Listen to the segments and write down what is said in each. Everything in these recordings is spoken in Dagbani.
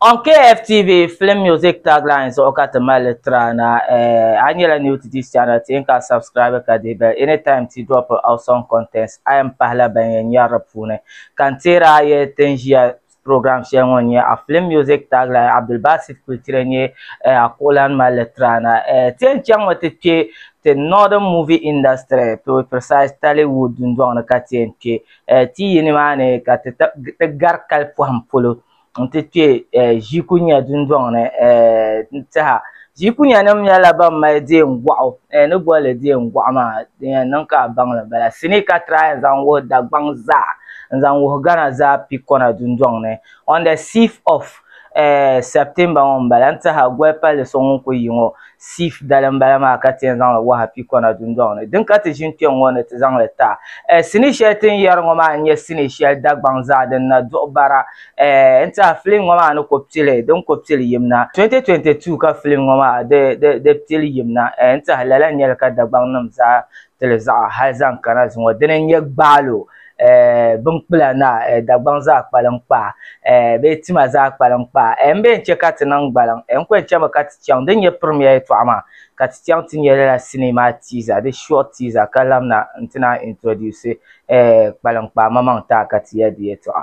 On KFTV Film Music Tagline zuɣu ka ti mali li tiri a na. Eh, a nyɛla new to this channel, ti yin ka subscribe ka dihi bell anytime ti drop awesome contents. A yɛn pahila ban yɛn nyari di puuni. Ka n teeri a yɛli ti ni ʒiya program shɛli ŋɔ n-nyɛ a Film Music Tagline, Abdulbasit Kultire n-nyɛ eh a kuɣulana mali li tiri a na. Eh, ti yɛn chaŋmi ti kpe ti Northern Movie Industry, to be precise Tollywood dundɔŋ ni ka ti yɛn kpe. Eh, ti yi nimaani ka ti ti gari kali pɔhim polo. n ti kpe ʒikunya dundɔŋ ni n-tiha. Ʒikunyanim nyɛla ban mali deemgɔɣu, ni boli li deemgɔɣu maa, din yɛn niŋ ka a baŋ li m-bala. Sinii ka tiraai n-zaŋ wuhi Dagbaŋ zaa, n-zaŋ wuhi Ghana zaa pikɔna dundɔŋ ni, on the sixth of September ŋɔ m-bala n-tiha goli palli so ŋun kuli yi ŋɔ. Sif dali m-bala maa ka ti yɛn zaŋ li waha pikɔna dundɔŋ ni. Din ka ti ʒini kpe ŋ-ŋɔ ni ti zaŋ li taɣi. Eh, sinii shɛli ti ni yɛri ŋɔ maa n-nyɛ sinii shɛli Dagbaŋ zaa din na duɣi bara. Eh, n tiɛha filim ŋɔ maa ni ko pili, di ni ko pili yim na. 2022 ka filim ŋɔ maa di, di, di pili yim na. Eh, n tiɛha lala n-nyɛ li ka Dagbaŋ nim zaa tili zaɣa hali zaŋ kana zuŋɔ dini n-nyɛ gbaalo eh, binkpula na eh, Dagbaŋ zaa kpalim kpaa eh, bee tima zaa kpalim kpaa eh, m-bee n-chɛ ka ti niŋ gbaliŋ eh, n kuli chɛmi ka ti chaŋ din nyɛ pirimiya yɛtɔɣa maa ka ti chaŋ ti nyɛ lala sinii maa teaser di short teaser ka lamina n-ti naan introduce eh, kpalim kpaa mamaŋ taa ka ti yɛli di yɛtɔɣa.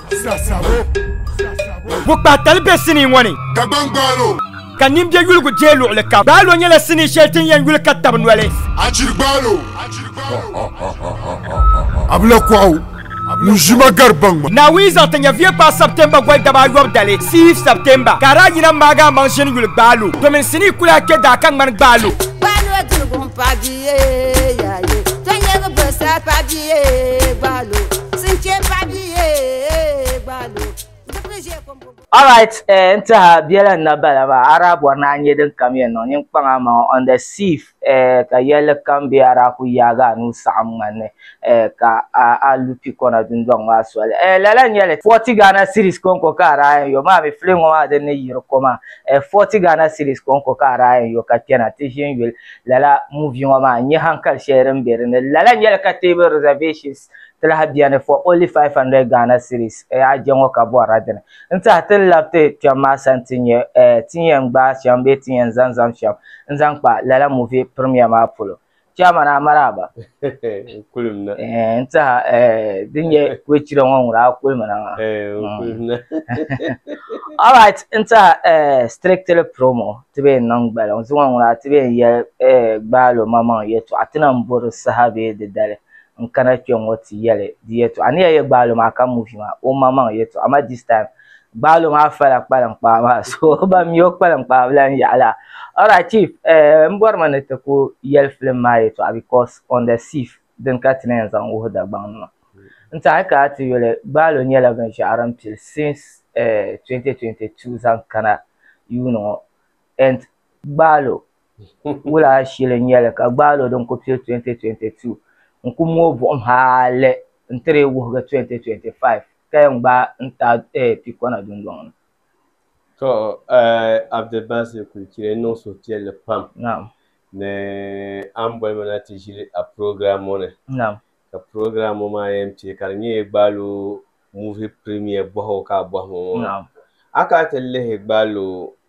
Bukpa tali bɛ sinii ŋɔ ni ka nimbɛ yuligu jee luɣuli ka gbaalo nyɛla sinii shɛli tin yɛn yuli ka tabi noli Naawuni zaŋ ti nyɛviya kpaai September goli dabaa ayobu dali sii September ka daa yina maagi a maŋ ʒini yuli gbaalo domin sinii kuli a kpɛ daa ka ŋmani gbaalo. Alright, eh, n tiha biɛla n na bala maa, a daa bɔri ni a nyɛ din kam yɛn niŋ ninkpaŋ amaŋ on the sieve, eh, ka yɛlli kam bɛ a daa ku yaagi a nuu saɣim ŋmani ni, eh, ka a a lu pikɔna dundɔŋ maa soli. Eh, lala n-nyɛ li, forty Ghana cedis kɔŋko ka a daa yɛn yo, maa mi fili ŋɔ maa din ni yiri ko maa, eh, forty Ghana cedis kɔŋko ka a daa yɛn yo ka kpɛna ti ʒini yuli lala movie ŋɔ maa n-nyɛ hankali shɛli din be di ni. Lala n-nyɛ li ka teebuli reservations. Ti lahi beni for only 500 Ghana cedis eh a je ŋɔ ka bɔrila dini n tiɛha ti ni labi ti kpɛm maa sani ti nya eh ti ni yɛn gbaai shɛm bee ti ni yɛn zaŋ zaŋ shɛm n zaŋ kpa lala movie premiere maa polo Chairman a maraaba N kulimina eh n tiɛha eh din nyɛ kulichira ŋɔ ŋuna a kulimina maa eh n Mm. kulimina Alright, n tiɛha eh strictly promo ti bee n niŋ gbali ŋɔ zuŋɔ ŋuna ti bee n yɛli eh gbaalo maŋmaŋ yɛltɔɣa ti na m bori saha bee di dali n kana kpe ŋɔ ti yɛli di yɛtɔɣa a ni yɛn yɛ gbaalo maa ka muvi maa o ma maŋ yɛtɔɣa ma this time gbaalo maa fala kpalinkpaa maa so ban mi o kpalinkpaa bi lan yaɣi la alright chief eh, n bɔri ma ni ti ku yɛli filim maa yɛtɔɣa because on the sif din ka ti ni yɛn zaŋ wuhi Dagbaŋ nima n ti a yi kana ti yuli gbaalo nyɛla binshɛɣu din pili since eh, 2022 zaŋ kana yuuni ŋɔ and gbaalo wula shili n-nyɛ li ka gbaal o din ku pili 2022 n ku mooi buɣim hali n-ti dii wuhigi 2025 ka yɛn gbaai n-taai pikɔna dundɔŋ ni. To, Abdulbasir Kulchire niŋ suhupiɛlli pam ni a ni boli ma na ti ʒili a program ŋɔ ni ka program ŋɔ maa yɛn pili ka di nyɛ Gbaalo Movie Premiere bɔhigu ka a bɔhi ma ŋɔ maa. A kana ti lihi Gbaalo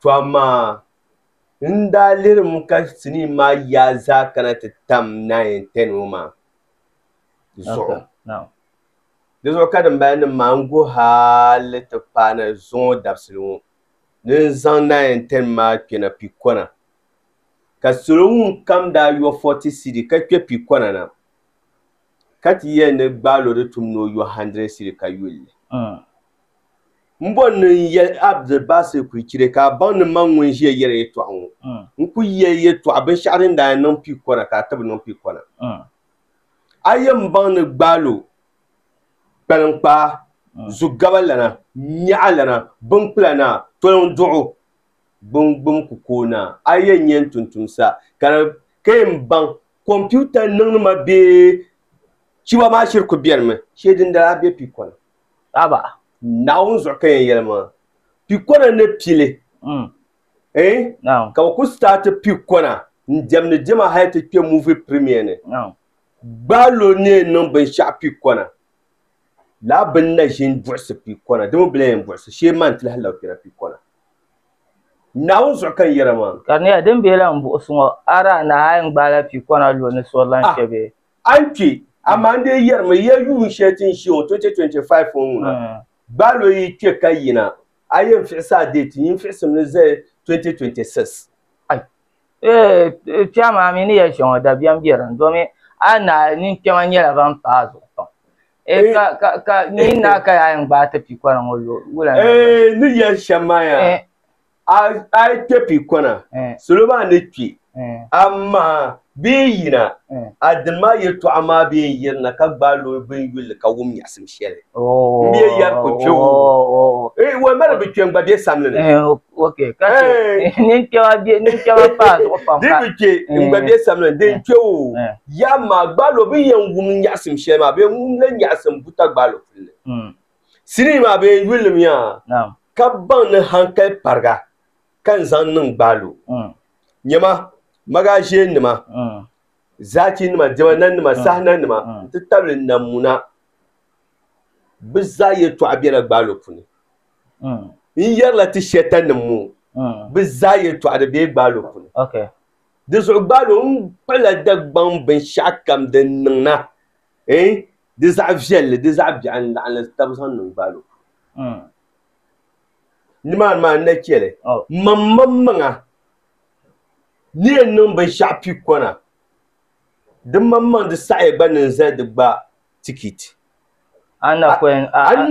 To amaa n daa lirimi ka sinii maa yaa zaa kana ti tam naayin tɛn ŋɔ maa zuɣu. Di zuɣu ka dimbala nim maa n go hali ti paai na zuŋɔ dabisili ŋɔ ni n zaŋ naayin tɛn maa kpe na pikɔna. Ka salo ŋun kam daa yɔ fɔti sidi ka kpe pikɔna na ka ti yɛli ni gbaalo di tum ni o yɔ handrɛd sidi ka yuli li. M bɔri ni n yɛli Abdulbasir Kuichire ka a baŋ ni man ŋun ʒiya yɛri yɛtɔɣa ŋɔ. N kul yɛli yɛtɔɣa binshɛɣu din daa yɛn niŋ pii kɔna ka a ti bi niŋ pii kɔna. A yɛn baŋ ni gbaalo, kpaliŋkpaa, zugaba lana, nyɛɣa lana, binkpula naa, toliŋ duɣu, gbungbum kukoo naa, a yɛn nyɛ n tumtum sa ka di ka yɛn baŋ kɔmpiuta niŋnima bee chiba maa shiri kul beni mi shee dindali a be pii kɔna. Aba, Naawuni zuɣu ka yɛn yɛli maa. Pikɔna ni pili eh ka bɛ kuli staati pikɔna n-diɛmdi diɛma hali ti kpe movie premiere ni. Gbaai lo ni yɛn niŋ binshɛɣu pikɔna lala bɛ ni na ʒini buɣisi pikɔna dama bɛ lahi yɛn buɣisi shee maa n-ti lahi labi kpɛna pikɔna. Naawuni zuɣu ka n yɛra maa. Ka di nyɛla din bɛ lahi buɣisi ŋɔ, a daa nahi a yɛn gbaai la pikɔna lo ni sorilan shɛba. A ni kpe, amaa n dee yɛrimi ya yuun shɛli ti ni ʒiya ŋɔ 2025 ŋɔ ŋuna, gbaai lo yi kpe ka yina, a yɛn fiɣisi a deeti nyin fiɣisim ni zali 2026. Ai! Eeh! Kpe amaa mi ni yɛli shɛŋa dabiɛm be din domi a ni naai nini kpɛma nyɛla ban pa a zuɣu pam. Eeh! Ka, ka, ka nyin naai ka yaa yɛn gbaai ti pikɔra ŋɔ lo wula ni a yɛn. Eeh! Ni yɛli shɛm maa yaa. Eeh! A, a yi kpe pii kɔna, salo maa ni kpi. Amaa bɛ yi yina, a dini maa yɛtɔɣa maa bɛ yɛn yirina ka gbaai lo bini yulli ka wum nyaɣisim shɛli. M bɛ yɛn yɛri ko kpe o. Wal mali bɛ kpe n-gba bɛ samli ni. Di bi kpe n-gba bɛ samli ni, din kpe o. Yaɣi maa, gbaai lo bini yɛn wum nyaɣisim shɛli maa bee ŋun lan nyaɣisim buta gbaai lo puli ni. sinii maa bee yulinim yaa ka baŋ ni hankali pariga ka n zaŋ niŋ gbaaloo. Nyɛma, magaʒiɛnnima, zaachinima, diɛma nanima, saha nanima n-ti tabili namuna bɛ zaa yɛtɔɣa bela gbaaloo puuni. N yɛrila ti Shɛtanim ŋɔ bɛ zaa yɛtɔɣa di be gbaaloo puuni. Dinzuɣu gbaaloo n-kpuɣila Dagbaŋ binshɛɣukam din niŋ na. eh di zaɣ viɛlli di zaɣ biɛɣu n laɣim li tab zaŋ niŋ gbaal o puuni mm. nimaani maa n na chɛli oh. mam mam maŋa ni yɛn niŋ binshɛɣu pi kɔna di mam maŋ di saɣiya gba niŋ zali di gba tikiti an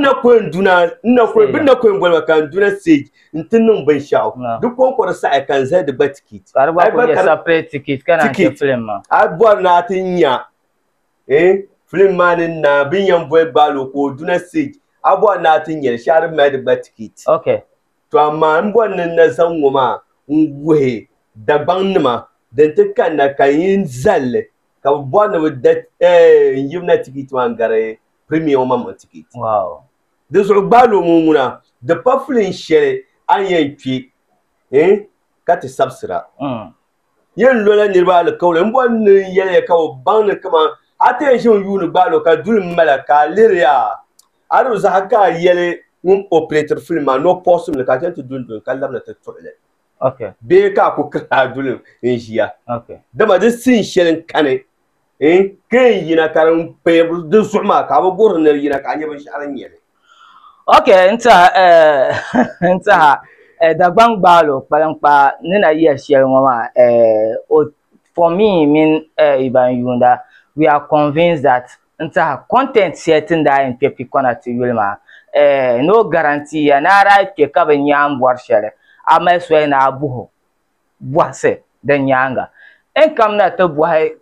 na koyin duna n na koyin bin na koyin boli ma ka n duna stage n ti niŋ binshɛɣu di kɔnkɔri saɣiya ka n zali di gba tikiti ka di gba kuli nyɛ separate tikiti ka na ti film ma a bɔri na ti nya eh film maa ni n naai bin yɛn boli gbaal o ka o duna stage a bɔri ni a ti nyɛli shɛhi di mali di gba ticket okay to amaa n bɔri ni n na zaŋ ŋɔ maa n wuhi Dagbaŋ nima din ti kanna ka n yi n zalli ka bi bɔri ni bi da eh n yirina ticket maa n gari premier ŋɔ maŋmaŋ ticket wow di zuɣu gbaal o ŋɔ ŋuna di pa film shɛli a ni yɛn kpɛ eh ka ti sabisira mm. Yen lola niriba alikauli m boli ni n yeliya ka o baŋ ni kaman a ti yɛn ʒi n yuuni gbaal o ka duli m mala ka a liriya a di zaha ka a yeli ŋun opretiri filim maa ni o puɣisim li ka a chen ti dunduni ka labina ti tuɣi li bee ka a ku kiri a duli n ʒiya dama di sin sheli n kani. n kpee n yina ka din paya di zuɣu maa ka bi guhiri nir yina ka a nyɛ binshɛɣu din nyɛli ok n tiɛha eh, n tiɛha eh, Dagbaŋ Gbaalo kpaliŋkpaa ni na yɛli shɛli ŋɔ maa eh, o for me mini eh, yi ban yuunda we are convinced that n tiɛha content shɛli ti ni daa yɛn kpe pikɔna ti yuli maa eh, no guarantee ya ni a daa kpe ka bi nya a ni bɔri shɛli a mali soli ni a buhi o. bɔhisi di nyaaŋa. N kam na ti bɔhi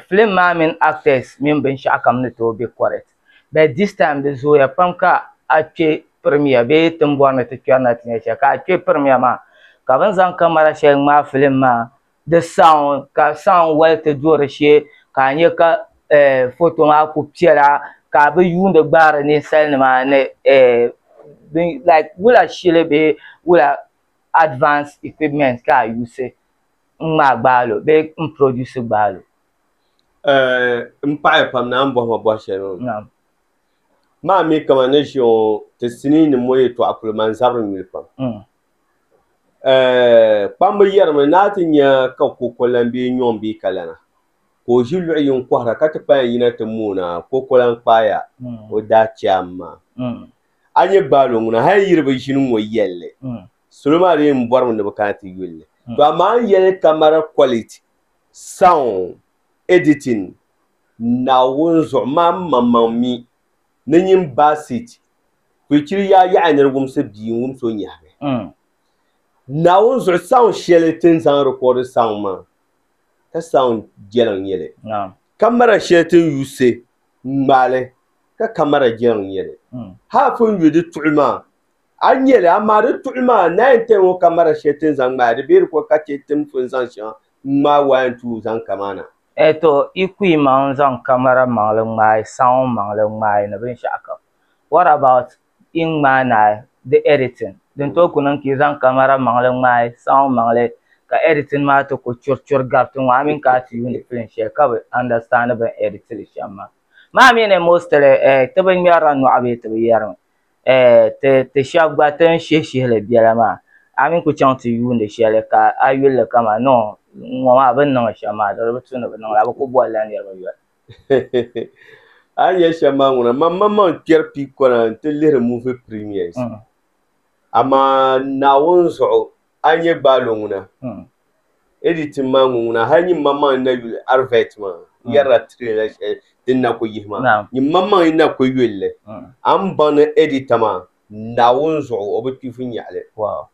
film maa mini actors mini binshɛɣu kam ni tooi be correct but this time di zooya pam ka a kpe premier bee ti ni bɔri ni ti kpɛri na ti nya shɛli ka a kpe premier maa ka bɛ ni zaŋ camera shɛli ŋmaai film maa di sound ka sound wali ti do di shee ka a nya ka photo maa kuli piɛla ka a bi yuuni gbaari ninsalinima ni like wula shili bee wula. advanced equipment ka a yusi n-ŋmaai gbaalo bee m-produce gbaalo? Eh, m paɣiya pam naan m-bɔhi ma bɔh shɛli ŋɔ. Naam. Maa mi kaman ni ʒiya ŋɔ ti sinii ni mɔ yɛtɔɣa kuli ma n-zabiri nyuli pam. Mm. Eh, kpamba yɛrimi ni a ti nya ka kokolan bee nyɔŋ bee kalana ka o ʒi luɣ yini kɔhira ka ti kpayan yina ti moona kokolan kpaaya, o daa chaam maa. Mm. A nyɛ gbaalo ŋuna hal yiri bi ʒini ŋɔ yɛli li. Salo maa di yɛn bɔrimi ni bi kana ti yuli li. To amaa n yɛli camera quality, sound, editing, Naawuni zuɣu maa n maŋmaŋ mi ni nyin Bassett kuli chiri yaa yaɣi ni di wumsi bia n wumsi o nyɛhigi Naawuni zuɣu sound shɛli ti ni zaŋ record sound maa ka sound jɛliŋ nyɛli. Camera shɛli ti ni yuusi n ŋmaali ka kamara jɛri n nyɛli haa pun yu di tuɣi maa a nyɛli amaa di tuɣi maa n naan tɛhi ŋɔ kamara shɛli ti ni zaŋ ŋmaai di beeri ko ka chɛ ti ni pun zaŋ shɛŋa ŋmaai waa n tuui zaŋ kamaana. Tɔ! Yi ku yi maŋ zaŋ kamara maŋli ŋmaai saɔŋ maŋli ŋmaai ni binshɛɣu kam, what about yi ŋmaai naai di editing din tooi ku niŋ ka yi zaŋ kamara maŋli ŋmaai sound maŋli ka editing maa ti ku churi churi gari ti ŋɔ a mini ka a ti yuuni film shɛli ka bi understand bini edit li shɛm maa maa mi ni mostly eh ti bi ŋmeri la nɔɣu bee ti bi yeri mi eh ti ti shɛba gba ti ni shihi shihi li biɛla maa a mini ku chaŋ ti yuuni shɛli ka a yuli li ka man no ŋɔ maa bini niŋ li shɛm maa di di bi tu ni bi niŋ li a bi ku boli la niriba yoli. a ni yɛli shɛm maa ŋuna man man maŋ kpɛri pii kɔna n ti lihiri muvi premiers Mm. amaa naawuni zuɣu a ni yɛ gbaalo ŋuna Mm. editing maa ŋun ŋuna hali nyim man maŋ n na yuli arvet maa n yɛrila trailer shɛli din na ku yihi maa Naam. nyim man maŋ n na ku yuli li Mm. a ni baŋ ni editor maa naawuni zuɣu o bi kpifu nyaɣili Wow.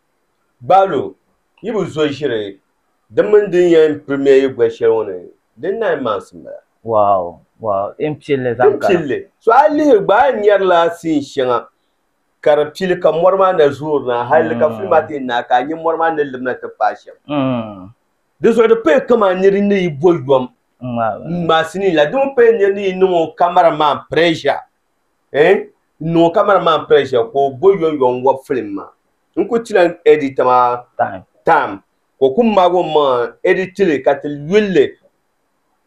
Gbalo, yi bi zo ʒiri di mini din yɛn pirimiya yi goli shɛli ŋɔ ni, di nine months m-bala. Wow! Wow! Din pilli zaŋ kana. Din pilli. So a lihi gba a ni nyari la scene shɛŋa ka di pili ka mɔri maa na zoori na hali di ka film maa ti yi naai ka a nya mɔri maa ni lim na ti paai shɛm. Di zuɣu di paya kaman nir ni yi bo yom n-ŋmaai scene la. Di mi paya nir ni yi niŋ o camera man pressure. eh n niŋ o camera man pressure ka o bo yɔn yɔn wɔbi film maa n ku chila n edit maa time ka o ku maagi o maŋa n edit li ka ti yulli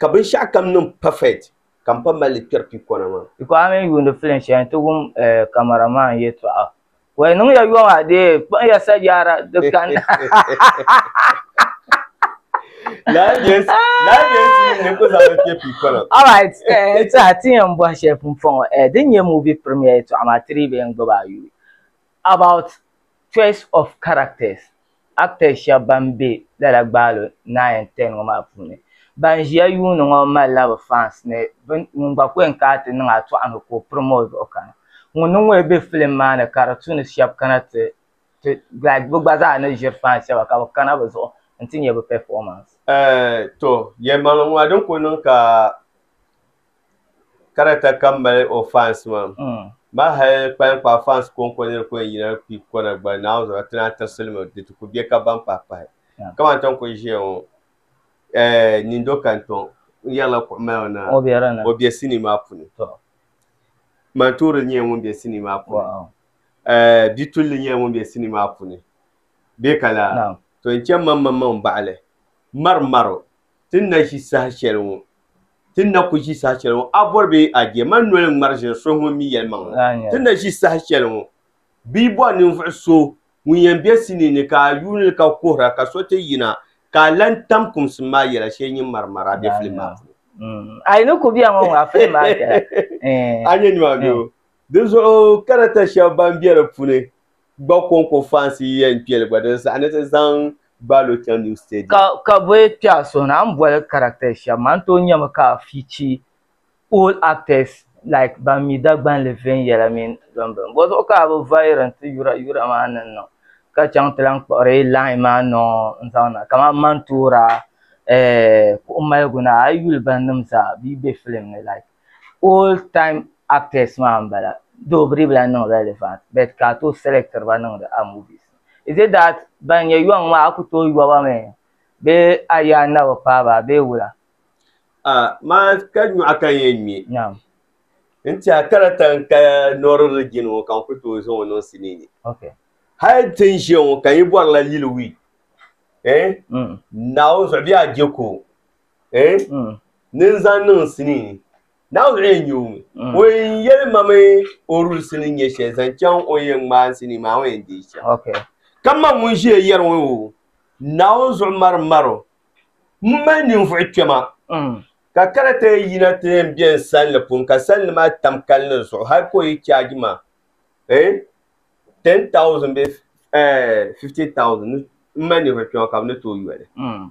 ka binshɛɣu kam niŋ perfect ka m pa mali li kpɛri pikɔna maa. Biko a mi yuuni film shɛli nti wum eh camera man yɛtɔɣa Wai niŋ ya yɔŋ a dee kpuɣi ya sajaara di kani. Lala bɛ sini ni ku zaŋ kpe pipolo. All right, eh, ti a ti yɛn bɔhi shɛli pun fɔŋ eh, din nyɛ movie premiere yɛltɔɣa maa ti dii bɛ yɛn gbubi a yuui about choice of characters. actors shɛba ban be lala gbaalo nine and ten ŋɔ maa puuni. Ban ʒiya yuuni ŋɔ malila bɛ fans ni bɛ ŋun gba ku yɛn kana ti niŋ a tɔɣu ni ka o pirim o zuɣu kana. Ŋun ni ŋɔ yi be film maa ni ka di tu ni shɛba kana ti ti like bɛ gba zaa ni ʒiri fans shɛba ka bɛ kana bɛ zuɣu n-ti nya bɛ performance. Tɔ! Yɛlimaŋli ŋɔ a din ku niŋ ka. Karata ka m mali o fans maa maa hali kpalinkpaa fans konko nir ku yɛn yina kpi kona gba Naawuni zuɣu ti naan tirisili mi di ti ku bɛ ka baŋ pahi pahi kamani ton kuli ʒiya ŋɔ Nindo Kantɔŋ n yɛrila kuɣu mali o naai o bɛ sinii maa puni Mantoori nyɛla ŋun bɛ sinii maa puni Bitulli nyɛla ŋun bɛ sinii maa puni bɛ ka laa to n chɛ maŋmaŋmaŋ baɣali marimaro Ti ni na ʒi saha shɛli ŋɔ, ti ni na ku ʒi saha shɛli ŋɔ, a bɔri bee a je, mani noli ŋmari ʒiri so ŋun mi yɛlimaŋli. Ti ni na ʒi saha shɛli ŋɔ, bɛ yi bɔri ninvuɣ so ŋun yɛn be sinii ni ka a yuuni li ka kuhira ka so ti yina ka a lan tam kumsim maa yɛla shee nyin ŋmari ŋmari a be filim maa puuni. A yi ni ku bɛ a ŋɔ ŋɔ, a filim maa viɛla. A nya nimaani bee? Dinzuɣu karata shɛba ban be di puuni gba konko fans yi yɛn kpeli gba din saɣi ni ti zaŋ Balo chaŋ new stadium. Ka ka bɛ kpɛɣu suhi ni a ni boli characters shɛba maa n tooi nyami ka a fichi old actors like ban mi Dagbanli viɛnyɛla mini din bini bɔzuɣu ka a bi vayiri n ti yura yura maa ni niŋ ka chaŋ ti lahi kpuɣiri line maa niŋ n zaŋ na kamani Mantoora eh kuɣu maligu ni a yi yuli ba nim zaa bɛ yi be film ni like old time actors maa n bala though bidib lahi niŋ relevant but ka a tooi select ba niŋdi a movies ni is it that ban nyɛ yɔŋ maa a ku tooi yɔ ba mi bee a yɛa n na bi paai ba bee wula? Ah, maa ka nyɔɣu ka n yɛn ŋme. Naam. N tiɛha kara ta n ka Nɔɔri Rijiŋ ŋɔ ka n ku tooi zaŋ o niŋ sinii ni. Ok. Hal n ti ni ʒiya ŋɔ ka n yi bɔrila yili wii eh, Mm. Naawuni zuɣu bee a je ko. eh mm. ni n zaŋ niŋ sinii ni. Naawuni lee n-nyɛ o ŋun mm. o yɛn yɛli ma mi o rulisi ni nyɛ shɛli zaŋ chaŋ o ni yɛn ŋmaai sinii maa o yɛn deei shɛm. Okay. Ka ma ŋun ʒiya yɛri ŋɔ o Naawuni zuɣu mari maro m mali ninvuɣu kpɛma mm. ka kana ti yɛn yina ti yɛn be n sanli pun ka sanli maa tam kalinli zuɣu hali ka o yi chaaji ma eh ten thousand bee eh fifty thousand m mali ninvuɣu kpɛma ka bɛ ni tooi yoli. Mm.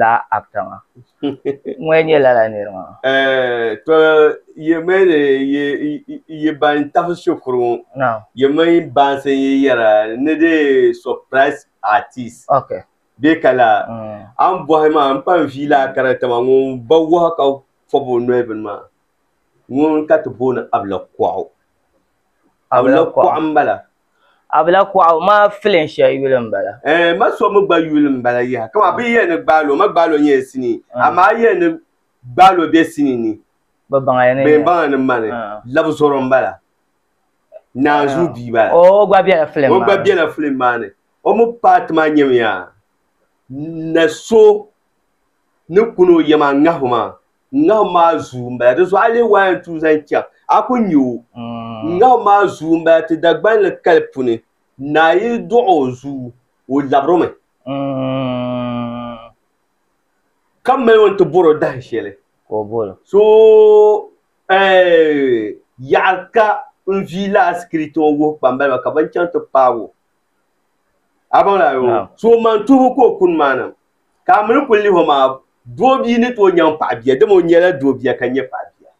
laa actor maa ŋɔ n-nyɛ lala niri maa. To yi mi ni yi ban tahi shikuru ŋɔ yi mi baansi yi yɛra ni di surprise artist bee ka laa a ni bɔhi maa n pa n-vii laa character maa ŋun ba wahu ka fɔbi o noli bini maa ŋun ka ti booni Abila Kuɣu Abila Kuɣu m-bala. Abila kuɣu maa filin shɛli yuli n bala. Ɛɛ ma so mi gba yuli n bala yaha kama bi yiya ni gbaalo ma gbaalo nyɛla sinii amaa yiya ni gbaalo bɛ sinii ni Bi baŋya ni bɛn baŋya ni mani labizoro n bala naanzuu bia bala o gba bɛla filin maa ni o gba bɛla filin maa ni o mi paati maa nyɛmiya na so ni kuni o yɛm a ŋahu maa N ŋahim maa zuu m-bala, di zuɣu a leei waa yɛn tuui zaŋ chaŋ, a ku nya o. N ŋahim maa zuu m-bala ti Dagbani ni kali puni, naa yi dɔɣi o zuu, o labirimi, ka m mali o nti bɔr o dahin shɛli, so yaɣir ka n vii lala sikiriti ŋɔ wuhi kpambaliba ba ka bɛ ni chaŋ ti paag o. A baŋ lala? Naam. So man tuhibu ka o kuni maa nam. Ka a mini kuli lihi o maa, doobia ni tooi nyaŋ paɣa bia, dama o nyɛla doobia ka nyɛ paɣa bia.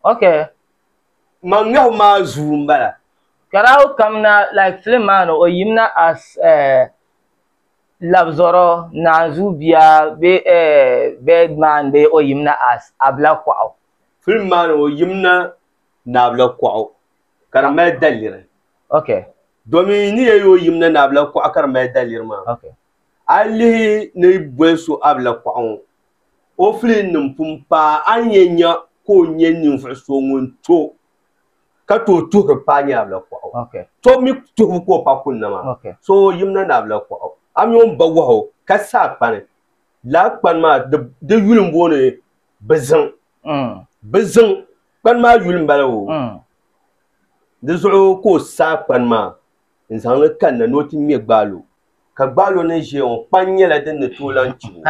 Ok. Man ŋahu maa zuu n bala. Karawu kamina like film maa ni o yimina as eh labzɔrɔ naanzuu bia bee eh bed man bee o yimina as abila kuɣu. Film maa ni o yimina ni abila kuɣu ka di mali daliri. Ok. Domi yi ni yɛli o yimina ni abila kuɣu ka di mali daliri maa. Ok. A yi lihi ni yi boli so Abila Kɔɣu ŋɔ, o filinnim pun paai a ni yɛn nya ka o nyɛ ninvuɣ so ŋun to ka tooi tuhiri paai ni Abila Kɔɣu. Tɔbu mi tuhibu ka o pa kunna maa. So yimina ni Abila Kɔɣu. A mi o ni ba wahu ka sa a kpani. Lala kpani maa di yuli m-booni Biziŋ. Biziŋ kpani maa yuli m-bala o. Di zuɣu ka o sa a kpani maa. n zaŋ li kanna ni o ti ŋmɛ gbaal o, ka gbaal o ni ʒiya ŋɔ kpaŋ nyɛla din ni tooi lan kpi o.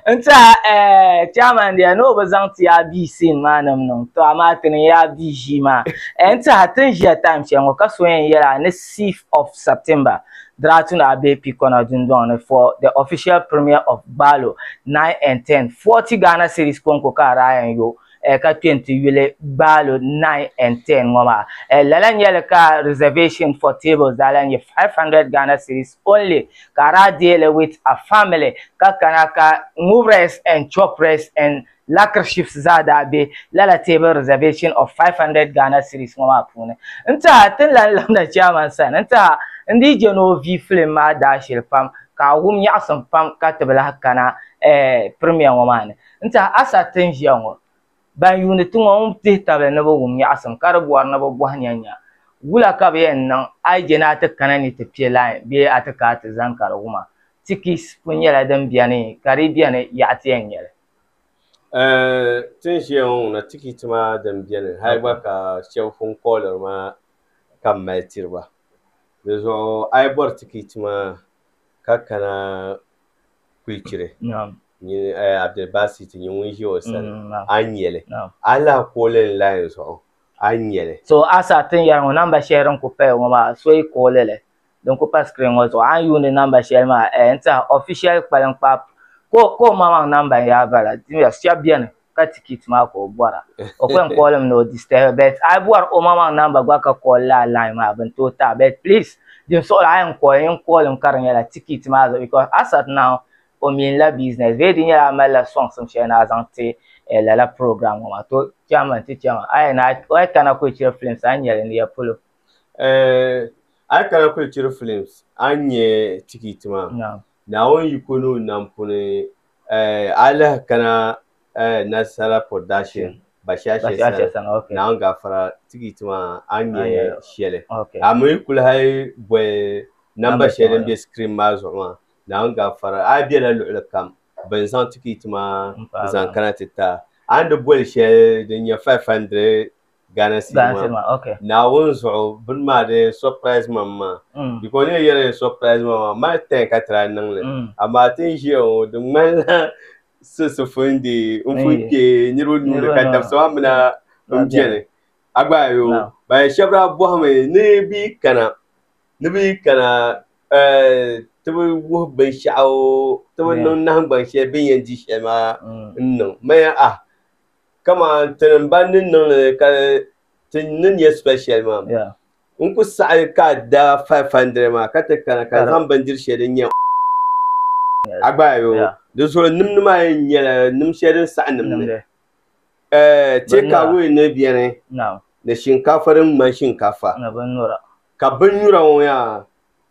N tiɛha eh, chairman dear ni o bi zaŋ ti a bia scene maa ni m-niŋ tɔ amaa ti niŋ ya a bia ʒii maa eh, n tiɛha ti ni ʒiya time shɛli ŋɔ ka so yɛn yɛli a ni sixth of September Draatuni Abee Pikɔna dundɔŋ ni for the official premiere of Gbaalo nine and ten, forty Ghana cedis kɔŋko ka a daa yɛn yo eh, ka kpe n-ti yuli gbaalo 9 and 10 ŋɔ maa. Eh, lala nyɛli ka reservation for tables daa lan nyɛ 500 Ghana cedis only ka a daa deei li with a family ka kana ka ŋubirɛs and chɔpirɛs and lakrshifs zaa daa be lala table reservation of 500 Ghana cedis ŋɔ maa puuni. N taha ti ni lan labina chairman sani n taha n dii je ni o vi film maa daashili pam ka a wum nyaɣisim pam ka ti bi lahi kana eh, premier ŋɔ maa ni. N tiɛhi a sa ti n ʒiya ŋɔ, ban yuuni ti ŋɔ ŋun tihi tabili ni bɛ wum nyaɣisim ka di bɔri ni bɛ bɔhi nyanya, Wula ka bɛ yɛn niŋ a yi je ni a ti kana ni ti piɛ lain bee a ti ka a ti zani ka di wuma? Tikis pun nyɛla din beni, ka di beni yaɣa ti yɛn nya li. A ti n ʒiya ŋɔ ŋuna tikit maa din beni hal gba ka shɛb pun kɔɣiliri ma ka m mali tiri ba. Dizuɣu a yi bɔri tikit maa ka kana kulichiri Abdulbasit nyɛ ŋun ʒi o sani a ni nyɛli a yi lahi kooli n layi zuɣu a ni nyɛli so a sa tin yɛri ŋɔ namba shɛli din kuli paya ŋɔ maa a so yi kooli li din kuli pa sikirin ŋɔ zuɣu a ni yuundi namba shɛli maa n tiɛha ofishɛl kpaliŋkpaa ka o maŋmaŋ namba n yaa bala shɛba bɛni ka ti kit maa ka o bɔra o kpɛm kɔɔlim ni o disturb bet a bɔri o maŋmaŋ namba gba ka kɔɔl laa line maa bin tooi taɣi bet please din suɣili a yɛn kɔɔl yɛn kɔɔlim ka di nyɛla ti kit maa zuɣu because a sat now o mean la business bee di nyɛla a malila songs n shɛli ni a zaŋ ti eh, lala program ŋɔ maa to chairman ti chɛma a yɛn a yi kana kuli chiri films a ni nyɛli ni ya polo Eh, a yi kana kuli chiri films a ni nyɛ ti kit maa. Naam. Naawuni yiko ni o nam puni eh, a yi lahi kana eh, Nasala Production, Bashashe Bashashe sani, sani, okay. Naawuni Gafara tikiti maa a ni A nya nya shɛli. Okay. A mi yi kuli hali boli namba Namba shɛli din shɛŋa. be screen maa zuɣu maa, Naawuni Gafara, a bela luɣili kam bɛ ni zaŋ tikiti maa N paagi zaŋ maa. kana ti ti a. A ni di boli shɛli din nyɛ 500 Ghana sili maa okay naawuni zuɣu bini maa di surprise ma maa mm. because ni yɛli ni surprise ma maa mali ten ka tira niŋli mm. amaa ti n ʒiya ŋɔ di ŋmanila sisifundi n di n fun kpe niriba nuuni ka dabisa maa mina n biɛni a gba yo ba shɛba daa bɔhimi ni bi kana ni bi kana eh, ti bi wuhi binshɛɣu ti bi niŋ nahingbaŋ shɛli bin yɛn di shɛli maa mm. n niŋ maya ah kaman ti ni ban ni niŋ li ka ti ni nya special maa Yeah. n ku saɣi ka a da 500 maa ka ti kana ka Ka di- zaŋ bindiri shɛli din nyɛ a gbaai o Yeah. di zuɣu nimdi maa yɛn nyɛla nim shɛli din saɣi nimdi Nimdi. Eh, take Binyura. away ni beni Naam. ni shinkafa din ŋmani shinkafa Ni binnyura. ka binnyura ŋɔ yaa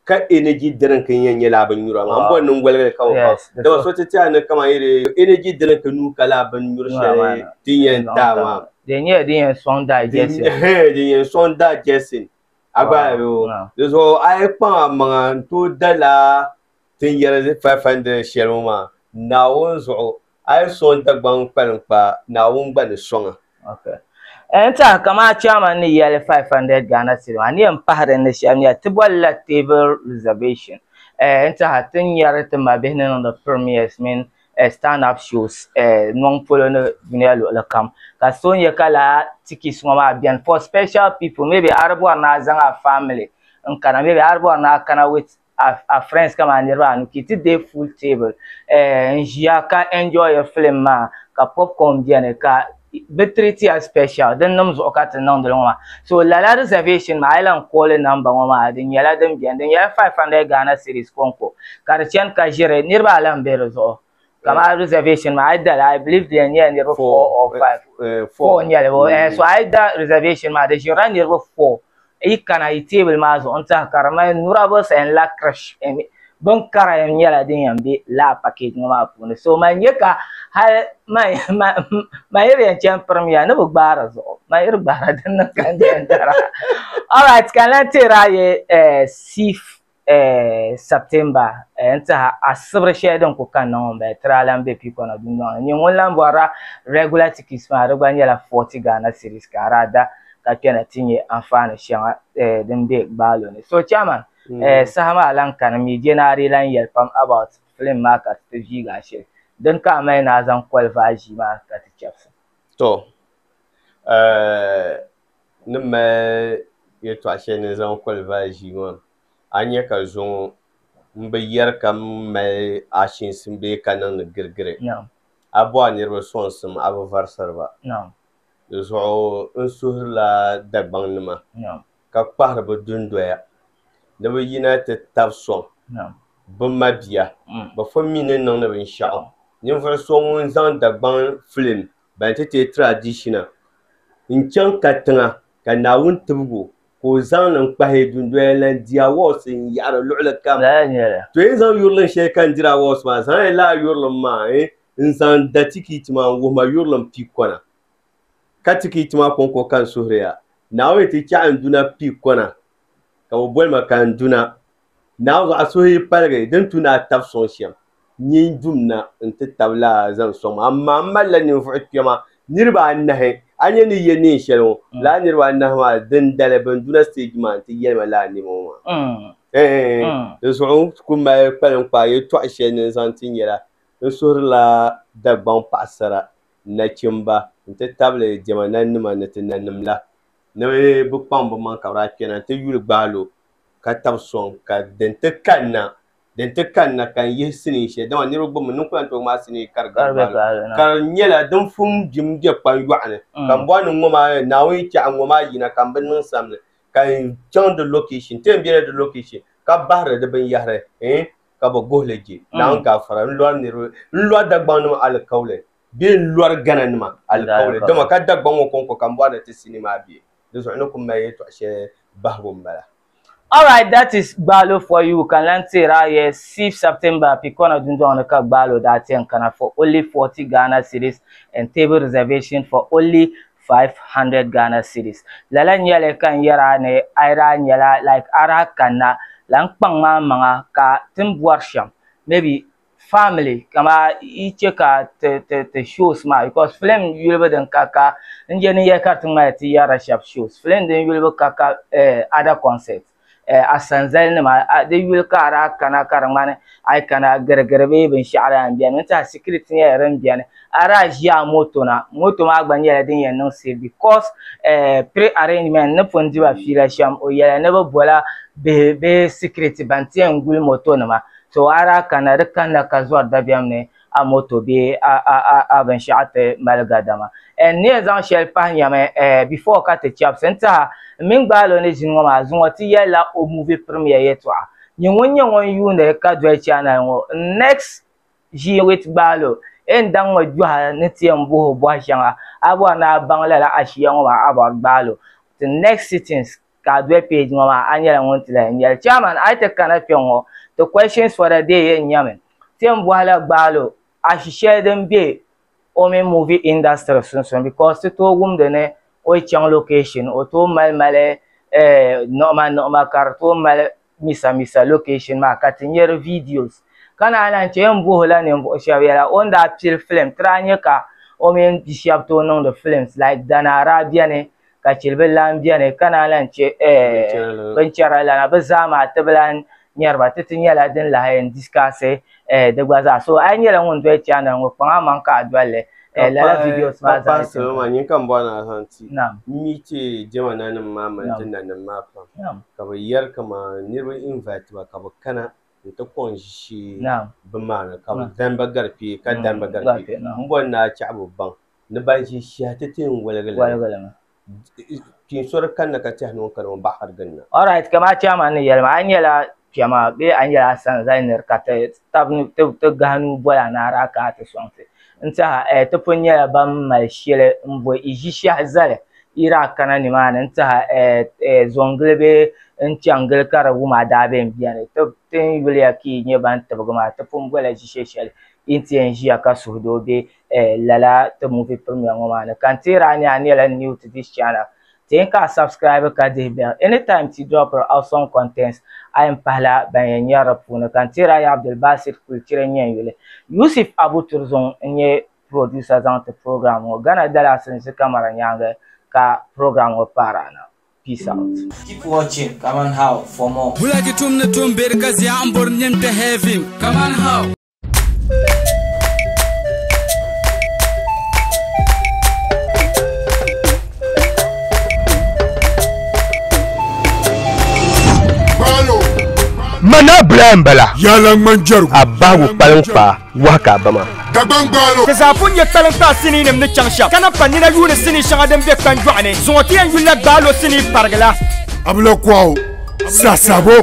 ka energy drink nya nyɛla bin nyura ŋan bɔ niŋ goligali ka o pam dama so ti tiɛha ni kama yiri energy drink nuu ka laa bin nyuri shɛli din yɛn daa maa di nyɛla din yɛn sɔŋ daa jɛsi din yɛn sɔŋ daa jɛsi a gba yo di zuɣu a yi kpaŋ a maŋa n tooi dala tin yɛri 500 shɛli ŋɔ maa naawuni zuɣu A yi sɔŋ Dagbaŋ kpalinkpaa, Naawuni gba ni sɔŋ a. Okay. N tɛha kaman chairman ni yɛli 500 Ghana cedi maa, n ni yɛn pahi din ni shɛli n-nyɛ, ti boli la table reservation. Eh, n tɛha ti ni nyari ti mabihi ni niŋdi premiers mini eh stand up shows eh nɔŋ polo ni dunia luɣili kam. Ka so nyɛ ka lala tickets ŋɔ maa beni for special people, maybe a di bɔri ni a zaŋ a family n-kana, maybe a di bɔri ni a kana with. a friends kama niriba anu ki ti deei full table eh, n ʒiya ka enjoy film maa ka popcorn beni ka bɛ treat ya special din nim zuɣu ka ti niŋdi li ŋɔ maa so lala reservation maa a yi lan call number ŋɔ maa di nyɛla din beni di nyɛla 500 Ghana cedis kɔŋko ka di chani ka ʒiri niriba alan be di zuɣu. kamar reservation ma ai dala i believe dia nyɛla niriba four or five eh, four nyɛli bo eh, so ai da reservation ma di ʒirila niriba four yi kana yi teebuli maa zuɣu n tiɛha ka di mali nurables and la crash eh, bin kara yɛn nyɛla din yɛn be laa package ŋɔ maa puuni so man nyɛ ka hali man yiri yɛn chɛn pirim ya ni bi gbaari zuɣu man yiri gbaara din niŋ ka n dara alright ka n lan teera ye eh, sif September n tiɛha asibiri shɛli din kuli kanna ŋɔ m-bala tiri a lahi be piikɔna dundɔŋ ni n-nyɛ ŋun lahi bɔrila regular tickets maa di gba nyɛla forty Ghana cedis ka di ada ka kpɛna ti nyɛ anfaani shɛŋa din be gbaalo ni so chairman saha maa lahi kani mi jɛna a dii lahi yɛli pam about film maa ka ti viigi a shili din ka a mali ni a zaŋ qualify ʒii maa ka ti chabisi. ni mali yɛtɔɣ shɛli ni zaŋ kɔlivaai ʒii ŋɔ, a ni nya ka zo ŋɔ m-bi yɛri ka m mali achiinsi bee ka niŋdi girigiri. A bɔ a niriba sɔŋsim a bi varisiri ba. Di zuɣu n suhirila Dagbaŋnima ka kpahiri bɛ dundoya ni bɛ yina ti tab sɔŋ bɛ mabia. Bɛ fo mi ni niŋdi binshɛɣu. Ninvuɣ so ŋun zaŋ Dagbaŋ filim ban ti teei tiradishina n-chaŋ katiŋa ka Naawuni tibigu ka o zaŋ li n-kpahi dundoya lan di awɔɔsi n-yaɣiri luɣili kam. To yi zaŋ yurilim shɛli ka n diri awɔɔsi maa, zaŋya lala yurilim maa n-zaŋ da tikiti maa n-wuhi ma yurilim pii kɔna. Ka tikiti maa kɔŋko ka n suhiri ya, Naawuni ti chaɣi n duna pii kɔna, ka o boli ma ka n duna. Naawuni a suhi yi paligi din tu ni a tab sɔŋ shɛm nyin dum na nti tabila a zaŋ sɔŋ ma, amaa m malila ninvuɣ kpɛma niriba anahi. A ni ni yɛ neen shɛli ŋɔ, lala niriba anahi maa dindali bɛn du na stage maa nti yɛli ma lala nɛma ŋɔ maa. Di zuɣu n ku mali kpaliŋkpaa yɛtɔɣ shɛli ni n zaŋ ti nyɛla n suhirila Dagbaŋ paɣisara, nachimba nti tabili diɛma nanima ni ti nanim la ni bɛ kpaŋ bɛmaŋ ka bɛ daa kpɛna nti yuli gbahi lo ka tabi sɔŋ ka din ti kanna din ti kanna ka n yihi sinii shɛli dama niriba gbibimi ninkula ni ti maa sinii ka di gari ka di nyɛla din fum jim be kpan yɔɣu ni mm. ka m bɔhi ni ŋɔ maa naawuni chɛɣu ŋɔ maa yina ka m bi niŋ sam ni ka n chaŋ di location ti n bela di location ka bahiri di binyɛhiri eh ka bi guhi li je mm. naawuni gaafara n lɔri niriba n lɔri dagbaŋnima alikauli bee n lɔri gana nima alikauli dama ka dagbaŋ ŋɔ kɔŋko ka m bɔhi ni ti sinii maa be di zuɣu ni ku mali yɛtɔɣ shɛli bahigu m-bala. Alright that is Gbaalo for you ka n lan teer a ya Sif September Pikɔna dundɔŋ ni ka Gbaalo daa ti yɛn kana for only forty Ghana cedis and table reservation for only five hundred Ghana cedis. Lala n-nyɛli ka n yɛr a ni a yi daa nyɛla like a daa kanna la n kpaŋ ma a maŋa ka ti ni bɔri shɛm maybe family kama yi che ka ti ti ti shows maa because film yulibu din ka ka n je ni yɛ ka ti ŋmaya ti yɛra shab shows film din yulibu ka ka eh, other concept eh, asanzali nima ah, di yuli ka ara kana ka di ŋmani ai kana girigiri bee binshaɣu daa n biɛni n tiɛha security nyɛla din biɛni ara ʒi a moto na moto maa gba nyɛla din yɛn niŋ safe because eh, pre arrangement ni pun diba fiila shɛm o yɛla ni bi bola bihi bee security ban tiɛn guli moto nima to a daa kanna di kanna ka zɔri dabiɛm ni a moto bee a a a a binshɛɣu ti mali gadama. N ni yɛn zaŋ shɛli pahi nyami eh before ka ti chɛbisi n tiha m mini gbaalo ni ʒini ŋɔ maa zuŋɔ ti yɛlila o movie premiere yɛtɔɣa Nyɛ ŋun nyɛ ŋun yuuni ka doli channel ŋɔ n next ʒii with gbaalo e ni daŋ ŋɔ gbiɔha ni ti yɛn buhi o bɔhi shɛŋa a bɔri ni a baŋ lala ashia ŋɔ maa a bɔri gbaalo till next sittings. ka a doli page ŋɔ maa a nyɛla ŋun ti lahi nyɛli. Chairman a yi ti kana kpɛŋŋɔ ti questions for the day yɛn nyɛmi ti ni bɔhi la Gbaalo ashishɛli din be o mini movie industry sunsuuni because ti tooi wumdi ni o yi chaŋ location o tooi mali mali niɣima niɣima ka di tooi mali Misa misa location maa ka ti nyari videos. Ka naan lan chɛ n bohi la ninvuɣu shɛb yɛla o ni daa pili film ti daa nyɛ ka o mini bi shɛb tooi niŋdi films like Danara beni ka Chilibilan beni ka naan lan chɛ eh binchɛra lana. Bɛ zaa maa ti bi lan nyari ba ti ti nyɛla din lahi yɛn discuss eh, di gba zaa so a yi nyɛla ŋun doli chaanda ŋɔ kpaŋ a maŋ ka a dolli eh, lala videos maa zaa ni salo maa nyini ka m bɔri ni alahan ti mi ti jɛma nanim maa mani ti nanim maa pam ka bi yɛri kaman niriba invite ba ka bi kana n ti kɔŋ ʒishi bi maa ni ka bi dani ba gari kpee ka dani ba gari kpee m bɔri ni a chaɣibu baŋ ni ban ʒi shihi ti ti n wɔligi li kpeen sori kanna ka tɛhi ni ŋun kani ŋun baɣa ka di ginda. Alright ka maa chairman ni yɛli maa a nyɛla kpɛma bee a nyɛla a sani zali niri ka ti tabi ti gahi nuu boli a naara a kana ti sɔŋti n tɛha eh, ti pun nyɛla ban mali shɛli n boi i ʒi shɛhi zali yiri a kana ni maa ni n tɛha eh, eh, zɔŋgili bee n chaŋgili ka di wum a daa bɛn bɛni ti ti n yuliya ka i nyɛ ban tibigi maa ti pun bɔla ʒi shɛ shɛli i ni ti yɛn ʒiya ka suhudoo bɛ eh lala ti movie premier ŋɔ maa ni ka n teer a ni a nyɛla new to this channel teei ka a subscribe ka dihi bell anytime ti drop ri awesome contents a yɛn pahila ban yɛn nyɛri di puuni ka n teer a ya Abdulbasit Kulchiri n nyɛ yuli Yusuf Abu Turzung n nyɛ producer zaŋ ti program ŋɔ Ghana Dallas n zi camera nyaangi ka program ŋɔ paari a na peace out. Keep watching Kaman How for more. Bulagi tum ni tum beri ka zia n bori nim kpe heaven kaman how. Mana bila n bala a bahigu kpaliŋ kpaa wahi ka a ba maa Ti zaa pun nyɛ kpaliŋ kpaa sinii nim ni chaŋ shɛm ka na pa nina yuuni sinii shɛŋa din be kpanjɔɣu ni zuŋɔ ti yɛn yulila gbaalo sinii parigila. Abila Kwawo, Sasabo.